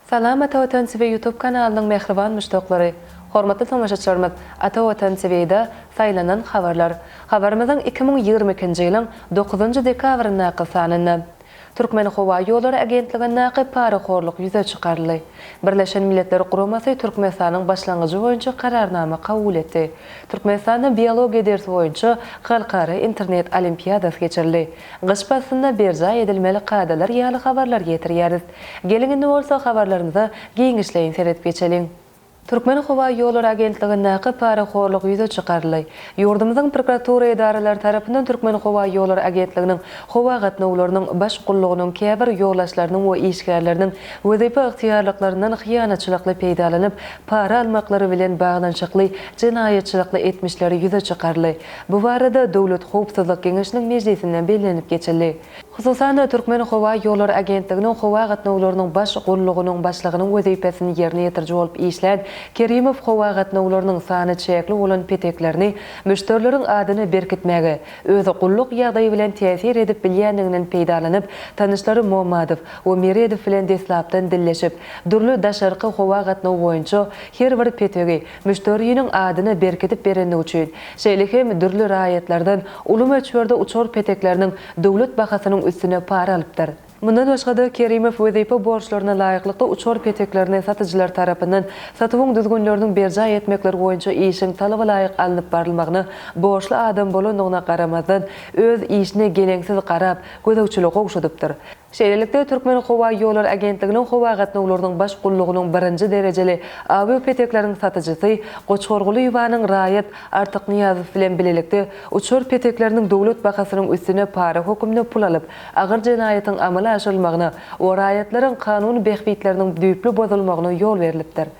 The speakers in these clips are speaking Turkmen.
Salam Ata Watan TV YouTube kanalynyň mähriban muşdaklary! Hormatly tomaşaçlarymyz, Ata Watan TV-da Saýlanan habarlar. Habarymyzyň iki müň ýigrimi ikinji ýylyň dokuzynjy dekabryndaky sanynda Türkmenhowaýollary agentligindäki parahorluk ýüze çykaryldy. Birleşen Milletler Guramasy Türkmenistanyň başlangyjy boýunça kararnama kabul etdi. Türkmenistanda biologiýa dersi boýunça halkara internet olimpiadasy geçirildi. Gyş paslynda berjaý edilmeli kadalar ýaly habarlar getirýäris. Geliň indi bolsa habarlarymyza giňişleýin seredip geçeliň. Türkmenhowaýollary agentligindäki parahorluk ýüze çykaryldy. Ýurdumyzyň prokuratura edaralary tarapyndan Türkmenhowaýollary agentliginiň howa gatnawlarynyň baş gullugynyň käbir ýolagçylarynyň we işgärleriniň wezipe ygtyýarlyklaryndan hyýanatçylykly peýdalanyp para almaklary bilen baglanyşykly jenaýatçylykly etmişleri ýüze çykaryldy. Bu barada Döwlet howpsuzlyk geňeşiniň mejlisinde bellenilip geçildi. Hususan-da, Türkmenhowaýollary agentliginiň howa gatnawlarynyň baş gullugynyň başlygynyň wezipesini ýerine ýetiriji bolup işlän Kerimow howa gatnawlarynyň sany çäkli bolan peteklerini müşderileriň adyna berkitmäge öz gulluk ýagdaýy bilen täsir edip bilýändiginden peýdalanyp, tanyşlary Muhammadow we Meredow bilen deslapdan dilleşip, dürli daşarky howa gatnawy boýunça her bir petegi müşderiniň adyna berkidip berendigi üçin, şeýle hem dürli raýatlardan uly möçberde uçar petekleriniň döwlet bahasynyň üstüne para alypdyr. Mundan başga-da, Kerimow wezipe borçlaryna laýyklykda uçar peteklerini satyjylar tarapyndan satuwyň düzgünleriniň berjaý etmekleri boýunça işiň talabalaýyk alnyp barylmagyna borçly adam bolandygyna garamazdan, öz işine geleňsiz garap, gözegçiligi gowşadypdyr. Şeýlelikde, Türkmenhowaýollary agentliginiň howa gatnawlarynyň baş gullugynyň birinji derejeli awiýo petekleriň satyjysy Goçhor Gulyýewanyň raýat Artyk Nyýazow bilen bilelikde uçar petekleriniň döwlet bahasynyň üstüne para höküminde pul alyp, agyr jenaýatyň amala aşyrylmagyna we raýatlaryň kanun bähbitleriniň düýpli bozulmagyna ýol berlipdir.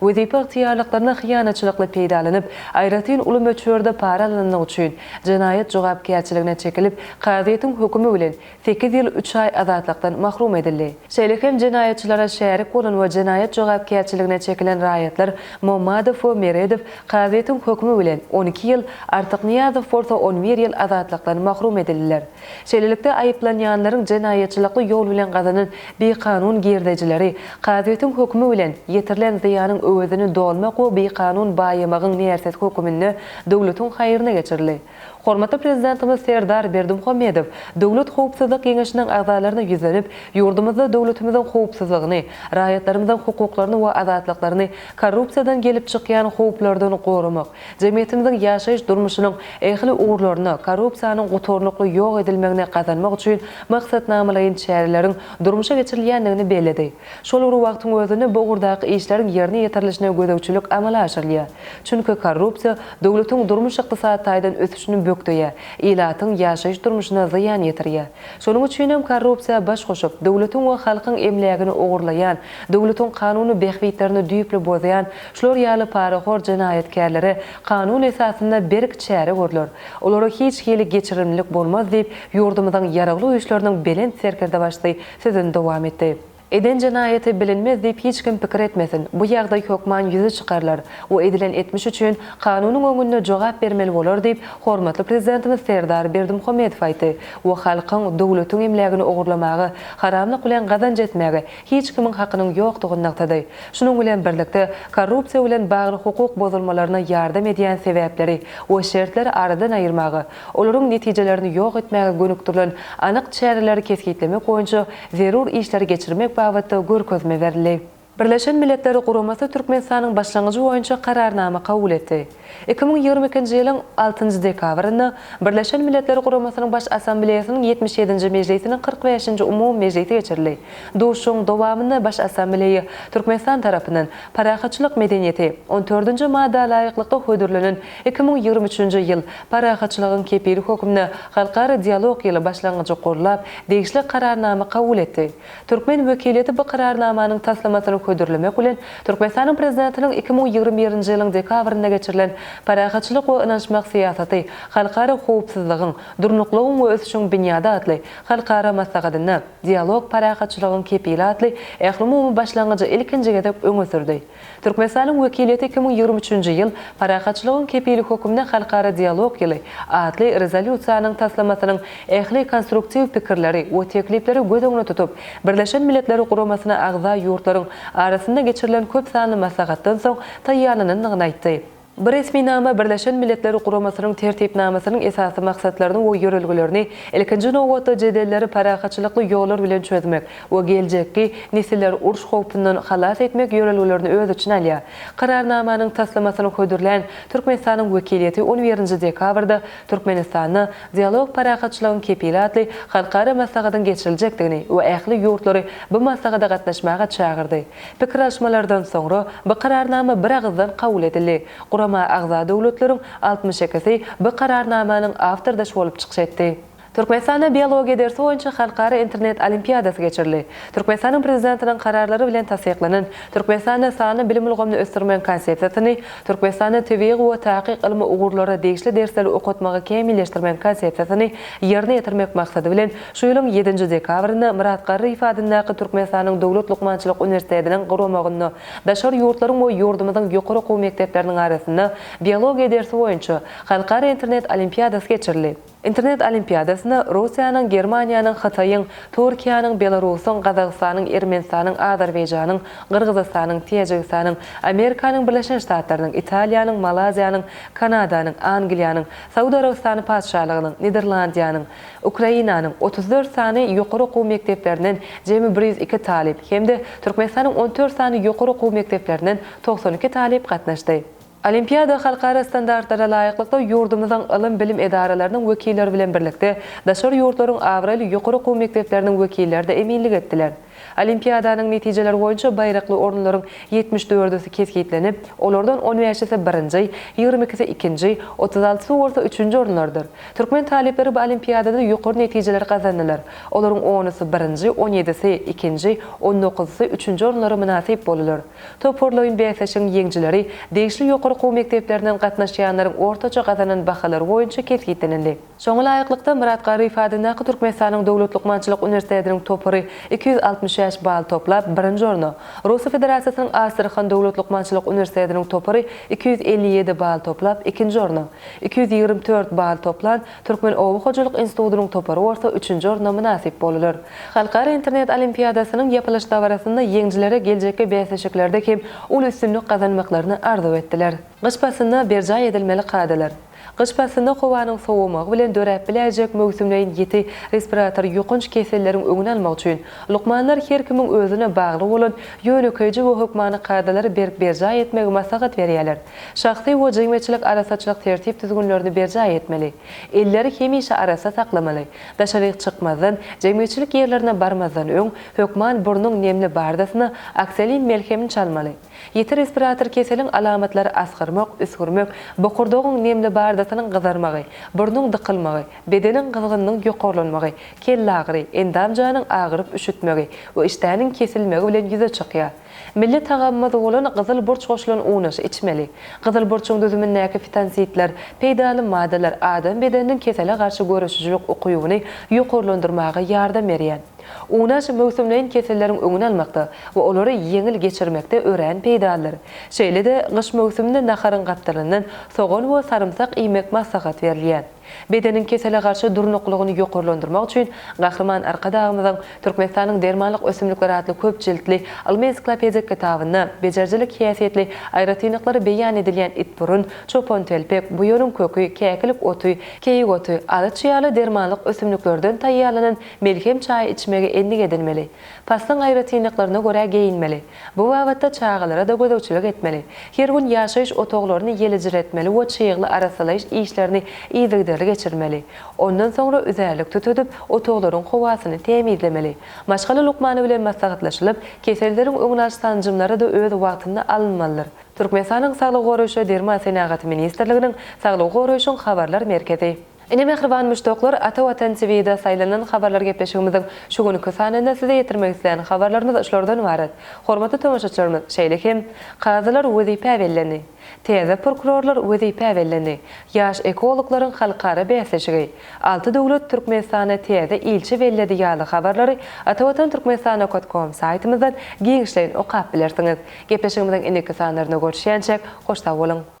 Wezipe ygtyýarlyklaryna hyýanatçylykly peýdalanyp, aýratyn uly möçberde para alanlygy üçin jenaýat jogapkärçiligine çekilip, kazyýetiň hökümi bilen sekiz ýyl üç aý azatlykdan mahrum edildi. Şeýle hem jenaýatçylara şärik bolan we jenaýat jogapkärçiligine çekilen raýatlar Mommadow we Meredow kazyýetiň hökümi bilen on iki ýyl, Artyknyýazow bolsa on bir ýyl azatlykdan mahrum edildiler. Şeýlelikde, aýyplanýanlaryň jenaýatçylykly ýol bilen gazanan bikanun girdejileri, kazyýetiň hökümi bilen, ýetirilen zyýanyň öwezini dolmak we bikanun baýamagyň nersiz höküminde döwletiň haýryna geçirildi. Hormatly Prezidentimiz Serdar Berdimuhamedow Döwlet howpsuzlyk geňeşiniň agzalaryna ýüzlenip, ýurdumyzda döwletimiziň howpsuzlygyny, raýatlarymyzyň hukuklaryny we azatlyklaryny korrupsiýadan gelip çykýan howplardan goramak, Jemgyýetimiziň ýaşaýyş durmuşynyň ähli ugurlaryna, korrupsiýanyň gutarnykly ýok edilmegine gazanmak üçin maksatnamalaýyn çäreleriň durmuşa geçirilýändigini belledi. Şol bir wagtyň özünde bu ugurdaky işleriň ýerine ýetirilişine gözegçilik amala aşyrylýar. Çünki korrupsiýa döwletiň durmuş-ykdysady taýdan ösüşini bökdeýär, ilatyň ýaşaýyş durmuşyna zyýan ýetirýär. Şonuň üçin hem korrupsiýa baş goşup, döwletiň we halkyň emlägini ogurlaýan, döwletiň kanuny bähbitlerini düýpli bozýan Şular ýaly parahor jenaýatkärlere kanun esasynda berk çäre görler, olara hiç hili geçirimlilik bolmaz diýip, ýurdumyzyň Ýaragly Güýçleriniň Belent Serkerdebaşysy sözüni dowam etdi. Eden jenaýaty bilinmez diýip hiç kim pikir etmesin, bu ýagdaý hökman ýüze çykarylar we edilen etmiş üçin kanunyň öňünde jogap bermeli bolar diýip, hormatly Prezidentimiz Serdar Berdimuhamedow aýtdy we halkyň, döwletiň emlägini ogurlamaga, haramlyk bilen gazanç etmäge, hiç kimiň hakynyň ýokdugyny nygtady. Şunuň bilen birlikde, korrupsiýa bilen bagly hukuk bozulmalaryna ýardam edýän sebäpleri we şertleri aradan aýyrmaga, olaryň netijelerini ýok etmäge gönükdirilen anyk çäreleri kesgitlemek boýunça zerur işleri geçirmek babatda görkezme berildi. Birleşen Milletler Guramasy Türkmenistanyň başlangyjy boýunça Kararnama kabul etdi. Iki müň ýigrimi ikinji ýylyň altynjy dekabrynda Birleşen Milletler Guramasynyň Baş Assambleýasynyň ýetmiş ýedinji mejlisiniň kyrk bäşinji umumy mejlisi geçirildi. Duşuşygyň dowamynda Baş Assambleýa Türkmenistan tarapyndan Parahatçylyk medeniýeti, on dördünji madda laýyklykda hödürlenen iki müň ýigrimi üçünji ýyl Parahatçylygyň kepili hökmünde halkara dialog ýyly başlangyjy gollap, degişli Kararnama kabul etdi. Türkmen wekiliýeti bu Kararnamanyň taslamasyny hödürlemek bilen, Türkmenistanyň Prezidentiniň iki müň ýigrimi birinji ýylyň dekabrynda geçirilen Parahatçylyk we ynanyşmak syýasaty halkara howpsuzlygyň, durnuklygyň we ösüşiň binýady atly halkara maslahatynda Dialog parahatçylygyň kepili atly ählumumy başlangyjy ilkinji gezek öňe sürdi. Türkmenistanyň wekiliýeti iki müň ýigrimi üçünji ýyl Parahatçylygyň kepili hökmünde halkara dialog ýyly atly rezolýusiýanyň taslamasynyň ähli konstruktiw pikirleri we teklipleri göz öňüne tutup, Birleşen Milletler Guramasyna agza ýurtlaryň arasynda geçirilen köp sanly maslahatdan soň taýýarlanandygyny aýtdy. Bu resminama Birleşen Milletler Guramasynyň Tertipnamasynyň esasy maksatlaryny we ýörelgelerini, ilkinji nobatda, jedelleri parahatçylykly ýollar bilen çözmek we geljekki nesilleri uruş howpundan halas etmek ýörelgelerini öz içine alýar. Kararnamanyň taslamasyny hödürlän Türkmenistanyň wekiliýeti on birinji dekabrda Türkmenistanda Dialog parahatçylygyň kepili atly halkara maslahatyň geçiriljekdigini we ähli ýurtlary bu maslahata gatnaşmaga çagyrdy. Pikir alyşmalardan soňra, bu Kararnama biragyzdan kabul edildi. Gurama agza döwletleriň altmyş ikisi bu Kararnamanyň awtordaşy bolup çykyş etdi. Türkmenistanda biologiýa dersi boýunça halkara internet olimpiadasy geçirildi. Türkmenistanyň Prezidentiniň Kararlary bilen tassyklanan Türkmenistanda sanly bilim ulgamyny ösdürmegiň Konsepsiýasyny, Türkmenistanda tebigy we takyk ylmy ugurlara degişli dersleri okatmagy kämilleşdirmegiň Konsepsiýasyny ýerine ýetirmek maksady bilen Şu ýylyň ýedinji dekabrynda Myrat Garryýew adyndaky Türkmenistanyň Döwlet lukmançylyk uniwersitetiniň guramagynda daşary ýurtlaryň we ýurdumyzyň ýokary okuw mekdepleriniň arasynda biologiýa dersi boýunça halkara internet olimpiadasy geçirildi. Internet olimpiadasyna Russiýanyň, Germaniýanyň, Hytaýyň, Türkiýäniň, Belarusyň, Gazagystanyň, Ermenistanyň, Azerbaýjanyň, Gyrgyzystanyň, Täjigistanyň, Amerikanyň Birleşen Ştatlarynyň, Italiýanyň, Malaziýanyň, Kanadanyň, Angliýanyň, Saud Arabystany Patyşalygynyň, Niderlandiýanyň, Ukrainanyň otuz dört sany ýokary okuw mekdeplerinden jemi bir ýüz iki talyp hem-de Türkmenistanyň on dört sany ýokary okuw mekdeplerinden togsan iki talyp gatnaşdy. Olimpiada halkara standartlara laýyklykda ýurdumyzyň ylym-bilim edaralarynyň wekilleri bilen birlikde, daşary ýurtlaryň abraýly ýokary okuw mekdepleriniň wekilleri-de eminlik etdiler. Olimpiadanyň netijeleri boýunça baýrakly orunlaryň ýetmiş dördüsi kesgitlenip, olardan on bäşisi, birinji, ýigrimi ikisi, ikinji, otuz altysy bolsa üçünji orunlardyr. Türkmen talyplary bu olimpiadada ýokary netijeleri gazandylar. Olaryň onusy, birinji, on ýedisi, ikinji, on dokuzysy, üçünji orunlara mynasyp boldular. Toparlaýyn bäsleşigiň ýeňijileri degişli ýokary okuw mekdeplerinden gatnaşýanlaryň ortaça gazanan bahalary boýunça kesgitlenildi. Şoňa laýyklykda, Myrat Garryýew adyndaky Türkmenistanyň Döwlet lukmançylyk uniwersitetiniň topary iki ýüz altmyş bäş bal toplap, birinji orna, Russiýa Federasiýasynyň Astrahan Döwlet lukmançylyk uniwersitetiniň topary iki ýüz elli ýedi bal toplap, ikinji orna, iki ýüz ýigrimi dört bal toplan Türkmen oba hojalyk institutynyň topary bolsa üçünji orna mynasyp boldular. Halkara internet olimpiadasynyň ýapylyş dabarasynda ýeňijilere geljekki bäsleşiklerde hem uly üstünlik gazanmaklaryny arzuw etdiler. Gyş paslynda berjaý edilmeli kadalar. Gyş paslynda howanyň sowamagy bilen döräp biläýjek möwsümleýin ýiti respirator ýokanç keselleriň öňüni almak üçin, lukmanlar her kimiň özüne bagly bolan ýönekeýje we hökmany kadalary berk berjaý etmegi maslahat berýärler. Şahsy we jemgyýetçilik arassaçylyk tertip-düzgünlerini berjaý etmeli. Elleri hemişe arassa saklamaly. Daşaryk çykmazdan, jemgyýetçilik ýerlerine barmazdan öň, hökman burnuň nemli bardasyna oksolin melhemini çalmaly. Ýiti respirator keseliň alamatlary asgyrmak, üsgürmek, bokurdagyň nemli bardasynyň gyzarmagy, burnuň dykylmagy, bedeniň gyzgynynyň ýokarlanmagy, kellagyry, endam-janyň agyryp üşütmegi we işdäniň kesilmegi bilen ýüze çykýar. Milli tagamymyz bolan gyzyl burç goşulan unaşy içmeli. Gyzyl burçuň düzümindäki fitansitler, peýdaly maddalar adam bedeniniň kesele garşy göreşijilik ukybyny ýokarlandyrmaga ýardam berýär. Unaş möwsümleýin keselleriň öňüni almakda we olary ýeňil geçirmekde örän peýdalydyr. Şeýle-de, gyş möwsüminde naharyň gapdalyndan sogan we sarymsak iýmek maslahat berilýär. Bedeniň kesele garşy durnuklylygyny ýokarlandyrmak üçin Gahryman Arkadagymyzyň Türkmenistanyň dermanlyk ösümlikleri atly köp jiltli ylmy-ensiklopedik kitabynda bejerijilik häsiýetli aýratynlyklary beýan edilýän itburun, çopantelpek, buýanyň köki, käkilik oty, keýik oty, alyç ýaly dermanlyk ösümliklerden taýýarlanan Melhem çaýy içmegi endik edinmeli. Paslyň aýratynlyklaryna görä geýinmeli. Bu babatda çagalara-da gözegçilik etmeli. Her gün ýaşaýyş otaglaryny ýelejiretmeli we çygly arassalaýyş işlerini yzygiderli geçirmeli. Ondan soňra üzärlik tutudyp, otaglaryň howasyny tämizlemeli. Maşgala lukmany bilen maslahatlaşylyp, keselleriň öňüni alyş sanjymlary-da öz wagtynda alynmalydyr. Türkmenistanyň Saglygy goraýyş we derman senagaty ministrliginiň Saglygy goraýşyň habarlar merkezi. Ine mähriban muşdaklar Ata Watan TVda saýlanan habarlar gepleşigimiziň şu günki sanynda size ýetirmek isleýän habarlarymyz şulardan ybarat. Hormatly tomaşaçylarymyz şeýle hem Kazylar wezipä bellendi. Täze prokurorlar wezipä bellendi. Ýaş ekologlaryň halkara bäsleşigi. Alty döwlet Türkmenistana täze ilçi belledi ýaly habarlary atawatantürkmenistanaokatkom saýtymyzdan giňişleýin okap bilersiňiz. Gepleşigimiziň indiki sanlarynda görüşýänçäk hoş sag boluň.